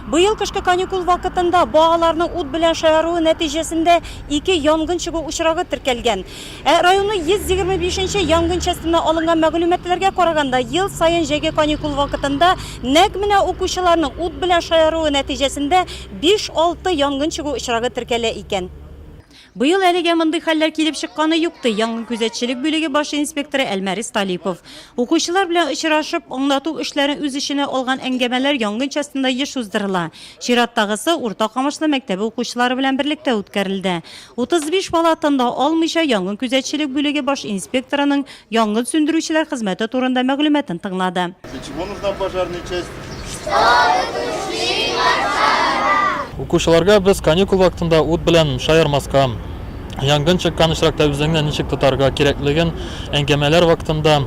Быел кышкы каникул вакытында балаларның ут белән шаяруы нәтиҗәсендә ике янгын чыгу очрагы теркәлгән. Ә районның 125 нче янгын частенә алынган мәгълүматларга караганда, ел саен җәйге каникул вакытында нәкъ менә укучыларның ут белән шаяруы нәтиҗәсендә биш-алты янгын чыгу очрагы теркәлә икән. Быел әлегә мондый хәлләр килеп чыкканы юк, ди янгынкүзәтчелек бүлеге баш инспекторы Әлмәрис Талипов. Укучылар белән очрашып, аңлату эшләрен үз эченә алган әңгәмәләр янгын частенда еш уздырыла. Чираттагысы Урта Камышлы мәктәбе укучылары белән берлектә үткәрелде. 35 бала тында алмыйча янгынкүзәтчелек бүлеге баш инспекторының янгын сүндерүчеләр хезмәте турында мәгълүматын тыңлады. Для чего нужна пожарная часть? Чтобы тушить пожар! Укучыларга без каникул вакытында ут белән шаярмаска, янгын чыккан очракта үзеңне ничек тотарга кирәклеген әңгәмәләр вакытында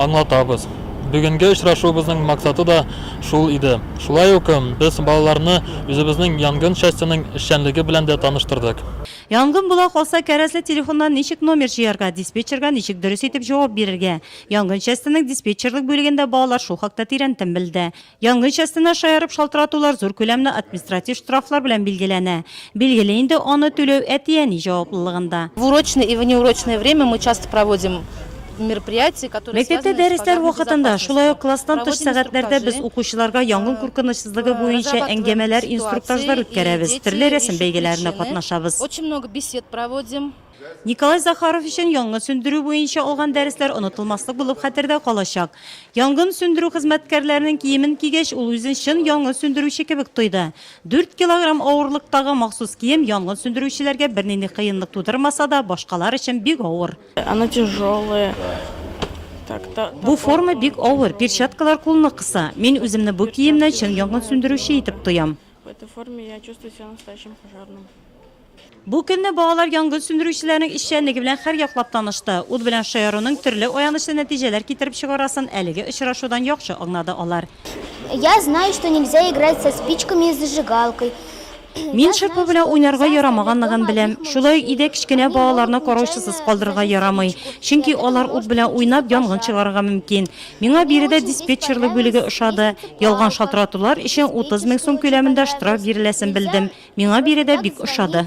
аңлатабыз. Бүгенге очрашуыбызның максаты да шул иде. Шулай ук без балаларны үзебезнең янгын частеның эшчәнлеге белән дә таныштырдык. Янгын була калса, кәрәзле телефоннан ничек номер җыярга, диспетчерга ничек дөрес итеп җавап бирергә? Янгын частенең диспетчерлык бүлегендә балалар шул хакта тирәнтен белде. Янгын частена шаярып шалтыратулар зур күләмле административ штрафлар белән билгеләнә. Билгеле инде, аны түләү әти-әни җаваплылыгында. В урочное и внеурочное время мы часто проводим Мәктәптә дәресләр вакытында, шулай ук класстан тыш сәгатьләрдә без укучыларга янгын куркынычсызлыгы буенча әңгәмәләр, инструктажлар үткәрәбез, төрле рәсем бәйгеләренә катнашабыз. Николай Захаров өчен янгын сүндерү буенча алган дәресләр онытылмаслык булып хәтердә калачак. Янгын сүндерү хезмәткәрләренең киемен кигәч, ул үзен чын янгын сүндерүче кебек тойды. Дүрт килограмм авырлыктагы махсус кием янгын сүндерүчеләргә бернинди кыенлык тудырмаса да, башкалар өчен бик авыр. Она тяжелая. Бу форма бик авыр, перчаткалар кулны кыса. Мин үземне бу киемнән чын янгын сүндерүче итеп тоям. Бу көнне балалар янгын сүндерүчеләрнең эшчәнлеге белән хәр яклап танышты. Ут белән шаяруның төрле аянычлы нәтиҗәләр китереп чыгарасын әлеге очрашудан яхшы аңнады алар. Я знаю, что нельзя играть со спичками и зажигалкой. Мин шырпы белән уйнарга ярамаганлыгын беләм. Шулай ук өйдә кечкенә балаларны караучысыз калдырырга ярамый, чөнки алар ут белән уйнап янгын чыгарырга мөмкин. Миңа биредә диспетчерлык бүлеге ошады. Ялган шалтыратулар өчен 30 мең сум күләмендә штраф биреләсен белдем. Миңа биредә бик ошады.